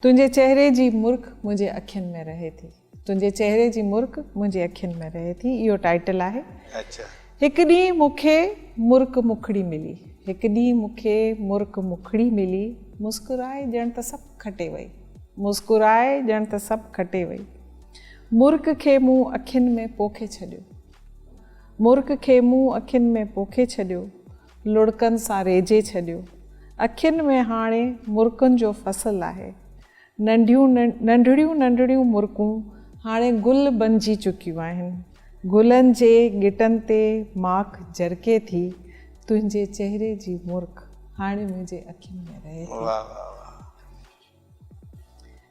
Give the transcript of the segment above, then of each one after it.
تنهنجي چهري جي مرڪ منهنجي اکين ۾ رهي ٿي. تنهنجي چهري جي مرڪ منهنجي اکين ۾ رهي ٿي اهو ٽائيٽل آهي. هڪ ڏينهن مون کي مرڪ مکڙي ملي. هڪ ڏينهن مون کي مرڪ مکڙي ملي مسڪرائي ڄڻ ته سڀ کٽي وئي. مسڪرائي ڄڻ ته سڀ کٽي وئي. مرڪ کي مون اکين ۾ پوکي ڇڏيو. مرڪ کي مون اکين ۾ پوکي ڇڏيو. لڙڪن سان ريجهي ڇڏيو. اکين ۾ هاڻي مرڪن جو فصل آهي. ننڍيون ننڍڙيون ننڍڙيون مرڪون هاڻي گل بنجي چڪيون آهن. گلن جي ڳٽن تي ماک جرڪي ٿي. تنهنجي چهري جي مرڪ هاڻي منهنجي اکين ۾ رهي ٿي. واهه واهه واهه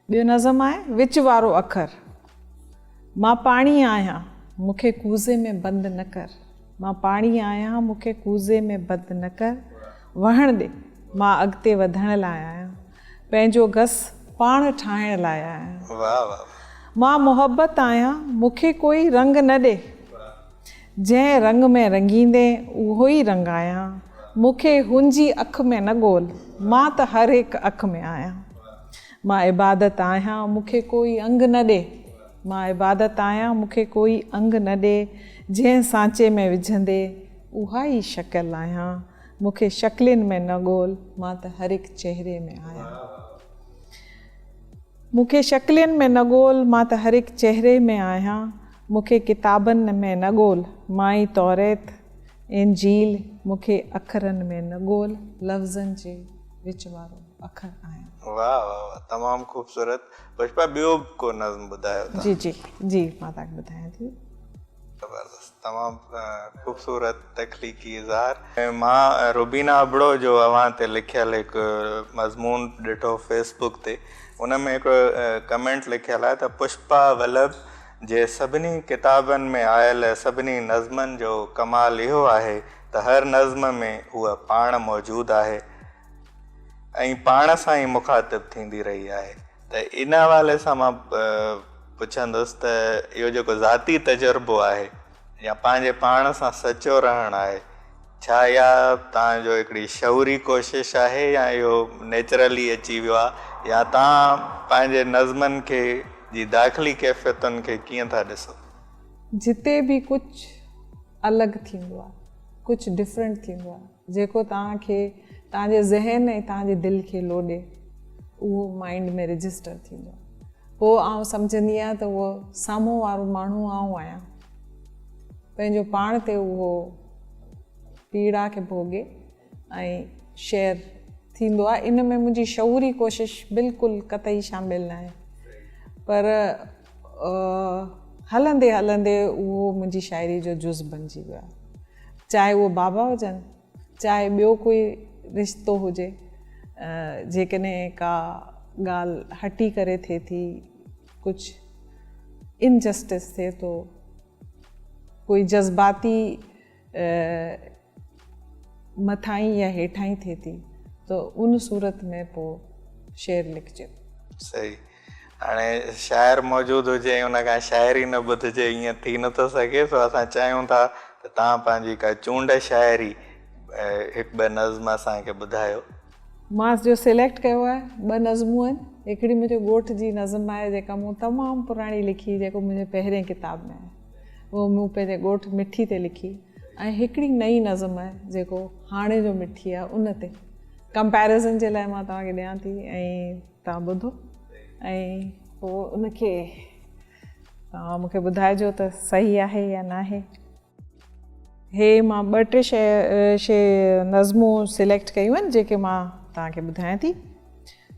ٻيو نظم آهي، وچ وارو اکر، مان پاڻي آهيان، مون کي ڪوزي ۾ بند نه ڪر، مان پاڻي آهيان، مون کي ڪوزي ۾ بند نه ڪر، وهڻ ڏي، مان اڳتي وڌڻ لاء آهيان، پنهنجو گس پاڻ ٺاهڻ لاء آهيان. مان محبت آهيان، مون کي ڪوئي رنگ نه ڏي، جنهن رنگ ۾ رنگيندين اهو ئي رنگ آهيان مون کي هن جي اک ۾ نه ڳول مان ته هر هڪ اک ۾ آهيان مان عبادت آهيان مون کي ڪوئي انگ نه ڏي مان عبادت آهيان مون کي ڪوئي انگ نه ڏي جنهن سانچي ۾ وجهندي اها ئي شڪل آهيان مون کي شڪلين ۾ نه ڳول مان ته هر هڪ چهري ۾ آهيان مون کي شڪلين ۾ نه ڳول مان ته هر هڪ چهري ۾ آهيان. مون کي ڪتابن ۾ نه ڳول، مائي توريت، انجيل، مون کي اکرن ۾ نه ڳول، لفظن جي وچ وارو اکر آهيان. واھ واھ واھ تمام خوبصورت پشپا ٻيو به ڪو نظم ٻڌايو تان. جي جي جي مان تان کي ٻڌايان ٿي. زبردست تمام خوبصورت تخليقي اظهار. مان روبينا ابڙو جو اوهان تي لکيل هڪ مضمون ڏٺو فيس بوڪ تي ان ۾ هڪڙو ڪمينٽ لکيل آهي ته پشپا ولڀ جي سڀني ڪتابن ۾ آيل سڀني نظمن جو ڪمال اهو آهي ته هر نظم ۾ هوء پاڻ موجود آهي ۽ پاڻ سان ئي مخاطب ٿيندي رهي آهي. ته ان حوالي سان مان پڇندس ته اهو جيڪو ذاتي تجربو آهي. يا پنهنجي پاڻ سان سچو رهڻ آهي؟ ڇا اها توهان جو هڪڙي شعوري ڪوشش آهي يا اهو نيچرلي اچي ويو آهي يا توهان پنهنجي نظمن کي جي داخلي ڪيفيتن کي ڪيئن ٿا ڏسو؟ جتي به ڪجهه الڳ ٿيندو آهي ڪجهه ڊفرنٽ ٿيندو آهي. جيڪو توهان کي توهان جي ذهن ۽ توهان جي دل کي لوڏي اهو مائنڊ ۾ رجسٽر ٿيندو پوء آئون سمجهندي آهيان ته اهو سامهون وارو ماڻهو آئون آهيان پنهنجو پاڻ تي اهو پيڙا کي ڀوڳي ۽ شيئر ٿيندو آهي ان ۾ منهنجي شعوري ڪوشش بلڪل قطعي شامل ناهي پر هلندي هلندي اهو منهنجي شاعري جو جز بنجي ويو چاهي اهو بابا هجن چاهي ٻيو ڪوئي رشتو هجي جيڪڏهن ڪا ڳالهه هٽي ڪري ٿئي ٿي ڪجهه انجسٽس ٿئي ٿو ڪوئي جذباتي مٿاهين يا هيٺاهين ٿئي ٿي ته ان صورت ۾ پوء شعر لکجي ٿو. صحيح. هاڻي شاعر موجود هجي ۽ ان کان شاعري نه ٻڌجي ائين ٿي نه ٿو سگهي سو اسان چاهيون ٿا ته توهان پنهنجي ڪا چونڊ شاعري هڪ ٻه نظم اسان کي ٻڌايو. مان جو سليڪٽ ڪيو آهي ٻه نظمون آهن هڪڙي منهنجي ڳوٺ جي نظم آهي جيڪا مون تمام پراڻي لکي جيڪو منهنجي پهرين ڪتاب ۾ آهي. اهو مون پنهنجي ڳوٺ مٺي تي لکي ۽ هڪڙي نئين نظم آهي جيڪو هاڻي جو مٺي آهي ان تي ڪمپيرزن جي لاء مان توهان کي ڏيان ٿي ۽ توهان ٻڌو ۽ پوء ان کي توهان مون کي ٻڌائجو ته صحيح آهي يا ناهي هي مان ٻه ٽي شي شي نظمون سليڪٽ ڪيون آهن جيڪي مان توهان کي ٻڌايان ٿي